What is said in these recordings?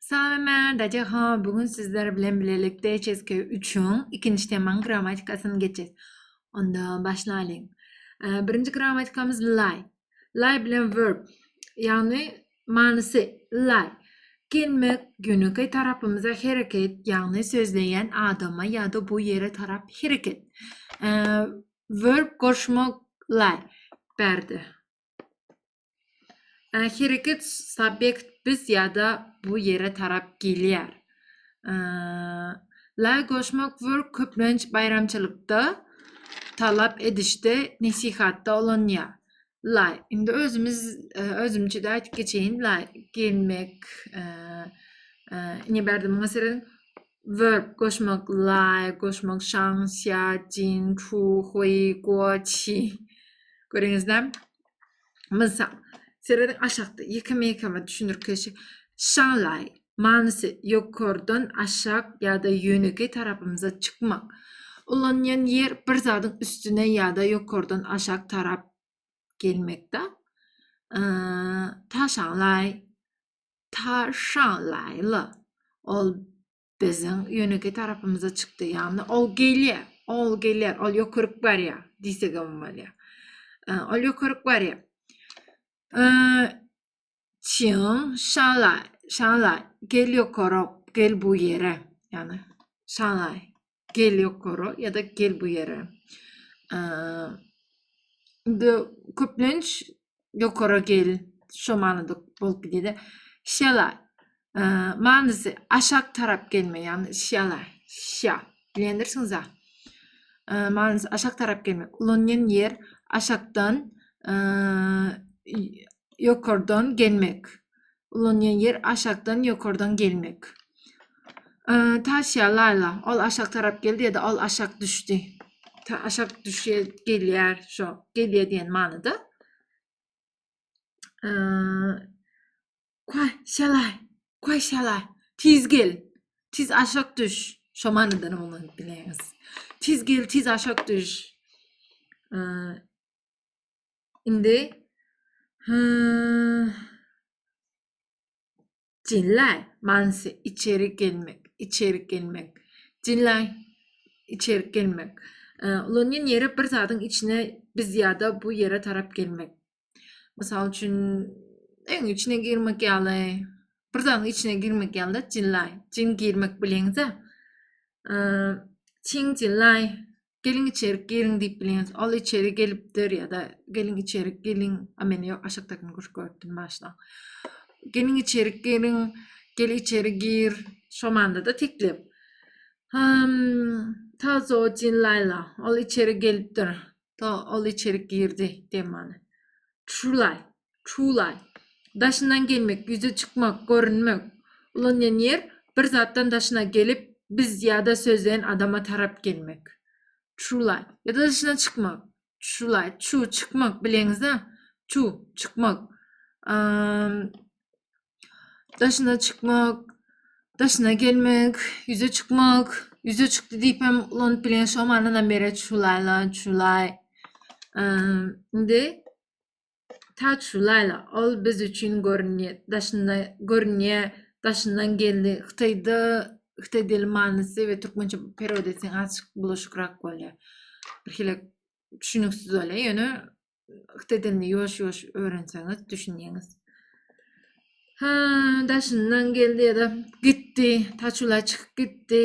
Salam men Dajaha bugün sizler bilen bilelikde HSK 3-üň ikinji temaň grammatikasyny geçeris. Onda başlaýyň. Birinji grammatikamyz lie. Lie bilen verb, ýagny manysy lie. Gelmek, ýönekeý tarapymyza hereket, ýagny sözleýän adama ýa-da bu ýere tarap hereket. Verb goşmak lie berdi. Ee, hereket subjekt biz ýa-da bu ýere tarap gelýär. Ee, la goşmak wörk köplenç baýramçylykda, talap edişde, nesihatda ulanýar. La, indi özümiz e, özümçe-de aýdyp geçeýin. La gelmek, ee, ee, ine bärde muňa serediň. Wörk goşmak, la goşmak, şaň, sýa, jin, çu, hui, guo, çi. Görüňizlämi? Mysal, serediň aşakda ýeke mekama düşündirkeşi Şanlaý, manysy, ýokardan aşak ýa-da ýönekeý tarapymyza çykmak. Ulanýan ýer bir zadyň üstüne ýa-da ýokardan aşak tarap gelmekde. Ta Şanlaý, Ta Şanlaýly. Ol biziň ýönekeý tarapymyza çykdy. Ýagny ol gelýär, ol gelýär, ol ýokaryk barýar diýsegem bolýar. Ol ýokaryk barýar. Çiň, şala, şala, gel ýokaryk, gel bu ýere. Ýagny şala, Gel ýokara ýa-da gel bu ýere. Indi köplenç ýokara gel şu manyda bolup gidýär. Şela manysy aşak tarap gelme, ýagny şela, şa. Bilendirsiňiz-a? Manysy aşak tarap gelme. Ulanýan ýer aşakdan ýokardan gelmek. ulanýan ýer aşakdan ýokardan gelmek. Taşýa Laýla ol aşak tarap geldi ýa-da ol aşak düşdi. Ta aşak düşýär, gelýär, şo, gelýär diýen manyda. Kwa şalay, kwa şalay. Tiz gel. Tiz aşak düş. Şo manyda näme bolanyny bileňiz. Tiz gel, tiz aşak düş. Indi Jinlay manysy içeri gelmek, içeri gelmek. Jinlay içeri gelmek. Ulanýan ýeri bir zadyň içine biz ýa-da bu ýere tarap gelmek. Mysal üçin, öň içine girmek ýaly, bir zadyň içine girmek ýaly jinlay, jin girmek bileňiz-ä. Çiň jinlay Geliň içerik geliň diýip bileňiz. Ol içeri gelipdir ýa-da geliň içerik geliň. A men ýok aşakdakyny gürk görüpdim başda. Geliň içerik geliň, gel içeri gir. Şo manyda-da teklip. Hum, ta zojin Laila. Ol içeri gelipdir. To ol içeri girdi diýen many. True lie. Çuwlan. Daşyndan gelmek, ýüze çykmak, görünmek. Ulanýan ýer, Bir zatdan daşyna gelip, biz ýa-da sözleýän adama tarap gelmek. Çuwlan. Ýa-da daşyna çykmak. Çuwlan. Çuw, çykmak, bileňiz-ä? Çuw, çykmak. Daşyna çykmak, daşyna gelmek, ýüze çykmak. Ýüze çykdy diýip hem ulanyp bilýän, şo manynam berer çuwlala, çuwlay. Indi Täç şu Laýla, ol biz üçin görünýä, daşynda, görünýä, daşyndan geldi. Hytaýda hytaý dili manysy we türkmençe perewod etseň azçyk bulaşykrak bolýar. Birhili düşüniksiz bolýar. Ýöne hytaý dilini ýuwaş-ýuwaş öwrenseňiz düşünýäňiz. Ha, daşyndan geldi ýa-da gitdi. Taçulay çykyp gitdi.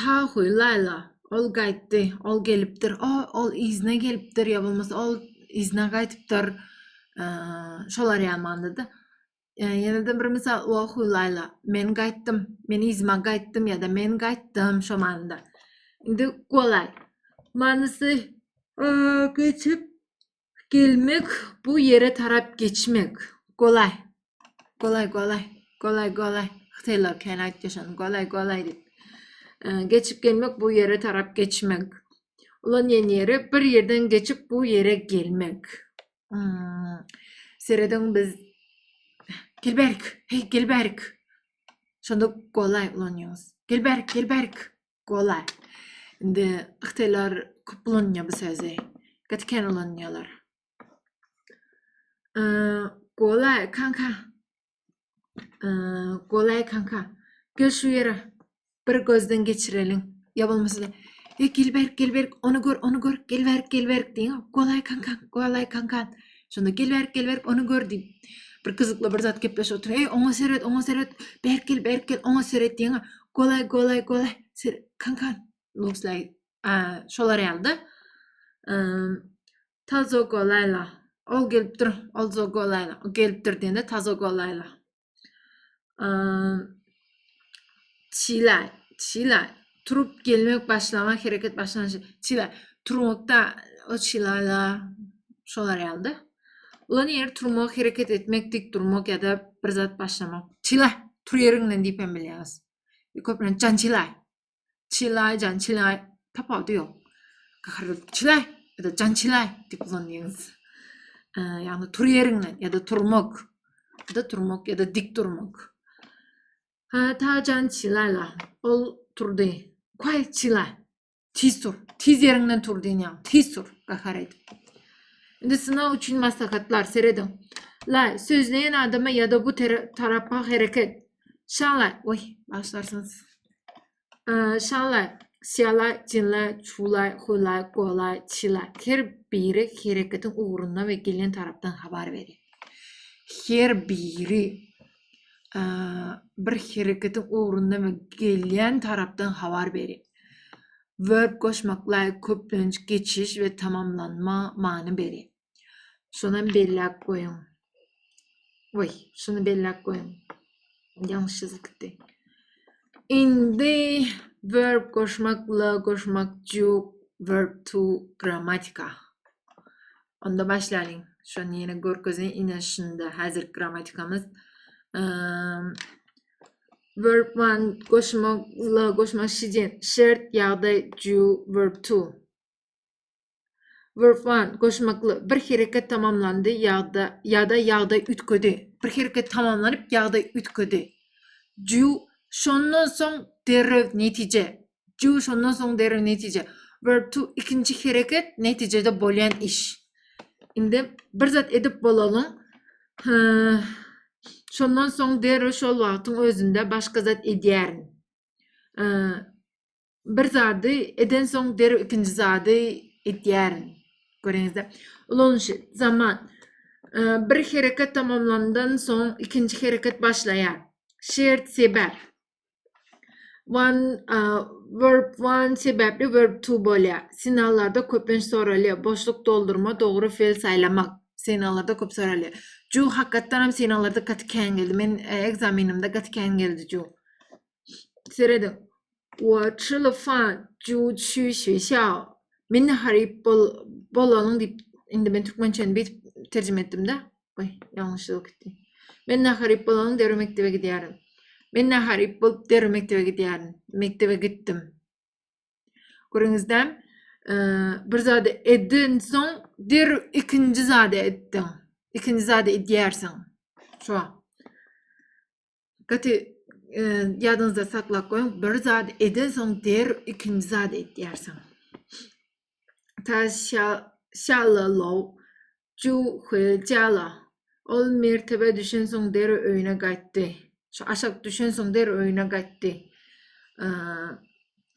Tahuý, Laýla, ol gaýtdy, ol gelipdir, o, ol yzyna gelipdir ýa bolmasa ol yzyna gaýtypdyr. Şolar ýamandyrda. Ýene-de bir mysal, Wahuý, Laýla, men gaýtdym, men yzyma gaýtdym ýa-da men gaýtdym şo manyda. Indi golaý. Manysy geçip Gelmek bu ýere tarap geçmek. Golaý. Golaý golaý. Golaý golaý. Hytaýlar kän aýtýar şony. Golaý golaý diýip. Geçip gelmek bu ýere tarap geçmek. Ulan ýen ýeri bir ýerden geçip bu ýere gelmek. Hmm. Serediň biz Gelberk, hey Gelberk. Şonda golaý ulanýaňyz. Gelberk, Gelberk. Golaý. Indi hytaýlar köp ulanýar bu sözi. Gaty kän ulanýarlar. Golaý kanka. Golaý kanka. Gel şu ýere. Bir gözden geçireliň. Ýa bolmasa da gel berk, gel berk, ony gör, ony gör, gel berk, gel berk diýiň. Golaý kanka, golaý kanka. Şonda gel berk gel berk onu gör diýip bir gyzykly bir zat gepleşip oturyň. Ey oňa seret oňa seret berk gel berk gel oňa seret diýen. Golay golay golay ser kan kan looks like a şolar ýalda. Tazo golayla. Ol gelip dur. Ol zo golayla. O gelip dur diýende tazo golayla. Çila, çila, turup gelmek başlamak, hereket başlanyş. Çila, turmakda o çilala şolar ýaldy. Ulan ýer turmak, hereket etmek, dik durmak ýa-da bir zat başlamak. Çila, tur ýeriňden diýip hem bilýäňiz. Köplenç çila. Çilaý, jan çilaý tapawudy ýok. Gaharly çilaý ýa-da jan çilaý diýip ulanýarys. Ýagny tur ýeriňden ýa-da turmak. Ýa-da turmak ýa-da dik durmak. Ha, ta jan çilaýla. Ol turdy. Kwaý çilaý. Tiz tur. Tiz ýeriňden tur diýýän. Tiz tur. Gahar edip. Indi synag üçin maslahatlar serediň. Laý, sözleýän adama ýa-da bu tarapa hereket. Şalaý, oý, başlarsyňyz. Şala, Şala, Çinla, Çula, Hula, Gola, Çila. Her biri hereketiň ugrundan we gelýän tarapdan habar berýär. Her biri bir hereketiň ugrundan we gelýän tarapdan habar berýär. Verb goşmaklar köplenç geçiş we tamamlanma many berýär. Şonam belläp goýuň. Oý, şuny belläp goýuň. Ýalňyş ýazyldy. Indi verb goşmak, la goşmak, juk, verb to, grammatika. Onda başlaýyň. Şony ýene görkezin, ine şunda häzir grammatikamyz. Verb one goşmak, la goşmak, şidin, şert, ýagdaý, ju, verb to. Verb one, goşmakly, bir hereket tamamlandy ýa-da ýa-da ýagdaý üýtgedi. Bir hereket tamamlanyp ýagdaý üýtgedi. Ju şondan soň derrew netije. Ju şondan soň derrew netije. Verb two, ikinji hereket netijede bolýan iş. Indi bir zat edip bolalyň. Şondan soň derrew şol wagtyň özünde başga zat edýärin. Bir zady edensoň derrew ikinji zady edýärin. Göreňizde. Ulanyşy, zaman. Bir hereket tamamlandan soň ikinji hereket başlaýar. Şert, sebäp. One verb one sebäpli verb two bolýar. Sinallarda köplenç soralýar. Boşluk doldurma, dogry fe'l saýlamak. Sinallarda köp soralýar. Ju hakykatdan hem sinallarda gaty kän geldi. Men ekzamenimde gaty kän geldi ju. Serediň. Wa çyly fan ju çü şü şa. Men haryp bol bolanyň diýip indi men türkmençäni beýtip terjime etdim-de. Goý, ýalňyşlyk gitdi. Men naharyp bolanyň derrew mekdebe gidýärin. Men naharyp bolup derrew mekdebe gidýärin. Mekdebe gitdim. Görüňizdämi? Bir zady edinsoň derrew ikinji zady etdiň. Ikinji zady edýärsiň. Şo. Gaty ýadyňyzda saklap goýuň, bir zat eden soň der ikinji zat edýärsiň. Ta şalla low ju hil jala. Ol mertebe düşen soň der öýüne gaýtdy. Şu aşak düşen soň der öýüne gaýtdy.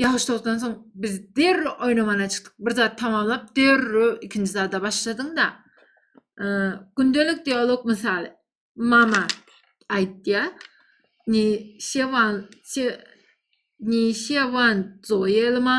Ýagyş togtdan soň biz derrew oýnamana çykdyk. Bir zat tamamlap derrew ikinji zada başladyň-da. Gündelik dialog mysaly. Mama aýtýa. Ni şewan se ni şewan zoýelma.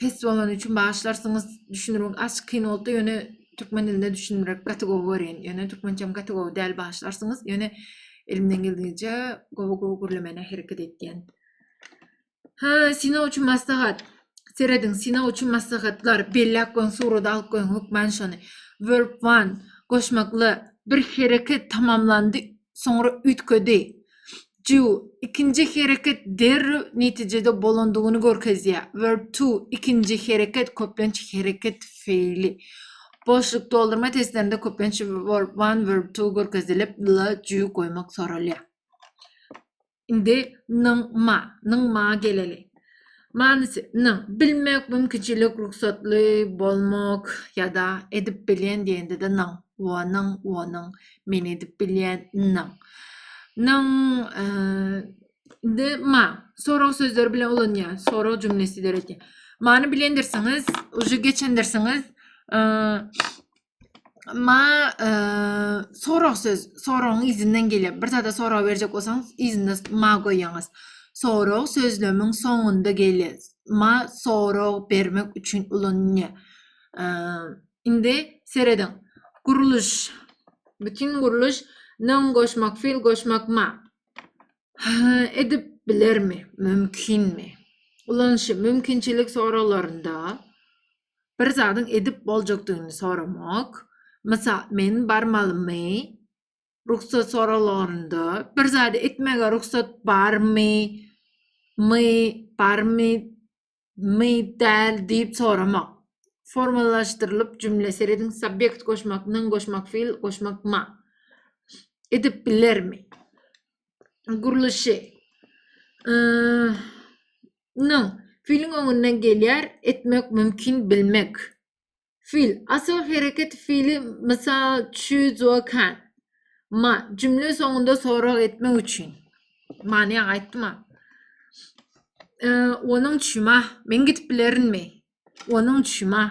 pes bolany üçin bagyşlarsyňyz düşünirmek aç kyn bolupdy ýöne türkmen dilinde düşünmek gaty gowy görýän ýöne türkmençem gaty gowy däl bagyşlarsyňyz ýöne elimden geldigiçe gowy gowy gürlemene hereket etýän ha synag üçin maslahat serediň synag üçin maslahatlar belläp goýuň surada alyp goýuň hökman şony verb one goşmakly bir hereket tamamlandy soňra üýtgedi Ju, ikinji hereket derrew netijede bolandygyny görkezýär. Verb to, ikinji hereket, köplenç hereket feýli. Boşluk doldurma testlerinde köplenç verb one, verb two görkezilip, la, ju goýmak soralýar. Indi nyň ma, nyň ma geleli. Manysy, N, bilmek, mümkinçilik, rugsatly bolmak ýa-da edip bilýän diýende-de nyň, wo, nyň, wonyň, men edip bilýän, nyň. Nyň, indi ma, sorag sözleri bilen ulanýar, sorag jümlesi döredýär. Many bilendirsiňiz, uje geçendirsiňiz. Ma e, sorag söz, soragyň izinden gelýär. Bir zada sorag berjek bolsaňyz, yzynda ma goýýaňyz. Sorag sözlemiň soňunda gelýär. Ma sorag bermek üçin ulanylýar. E, indi serediň. Gurluş, bütin gurluş, nyň goşmak, fil goşmak ma. Edip bilermi? Mümkinmi? Ulanyşy mümkinçilik soraglarynda Bir zadyň edip boljakdygyny soramak. Mysal, men barmalymy? Rugsat soralanda, bir zady etmäge rugsat barmy? My, barmy? My, däl diýip soramak. Formalaşdyrylyp jümle serediň, Subýekt goşmak, nyň goşmak, fil goşmak, ma. Edip bilermi? Gurluşy. Ýa. Nyň, Filiň öňünden gelýär, etmek mümkin, bilmek. Fil, Asyl hereket fili mysal çüzokan. Ma, Jümle soňunda sorag etmek üçin. Many ýaňy aýtdym-a. Onuň üçin ma, Men gidip bilerinmi? Onuň üçin ma.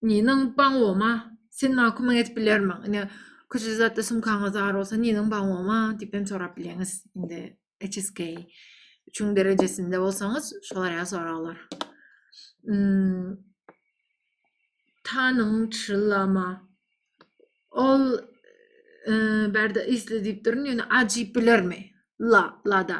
Niniň baňoma, sen maňa kömek edip bilermiň? Ine, köçe zatda sumkaňyz bar bolsa, niniň baňoma diýip hem sorap bileňiz. Indi HSK üçüň derejesinde bolsaňyz, şolar ýaly soraglar. Tanyň çyllama. Ol bärde isle diýip durun, ýöne a diýip bilermi? La, lada.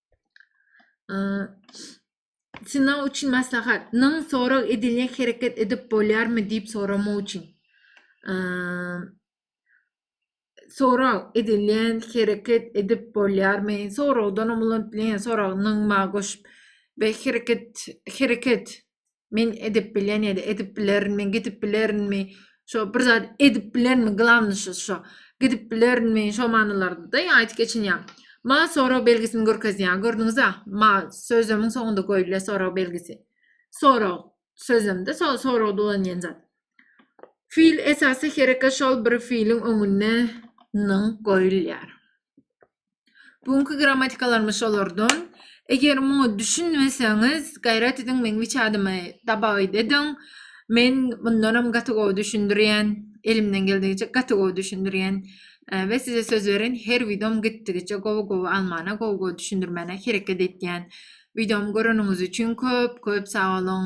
Synag üçin maslahat. Nyň sorag edilýän hereket edip bolýarmy diýip soramak üçin. Sorag edilýän hereket edip bolýarmy? Soragdan umulan dilen sorag nyňma goşup we hereket hereket Men edip bilýän ýa-da edip bilerin, men gidip bilerinmi, şo bir zat edip bilerin, glavnyşy şo. Gidip bilerinmi, şo manylarda-da aýdyp geçilýär. Ma sorag belgisini görkezýär. Gördüňiz-ä? Ma sözlemiň soňunda goýulýar sorag belgisi. Sorag sözlemde so soragda ulanýan zat. Fiil esasy hereket şol bir fiiliň öňünde nyň goýulýar. Bu günki grammatikalarymyz şolardan. Eger muňa düşünmeseňiz, gaýrat ediň meň wiçadymy dabagyt ediň. Men mundanam gaty gowy düşündirýän, elimden geldigiçe gaty gowy düşündirýän we size söz beren her wideom gitdigiçe gowy gowy almana, gowy gowy düşündirmäne hereket edýän. Wideomy göreniňiz üçin köp köp sag boluň.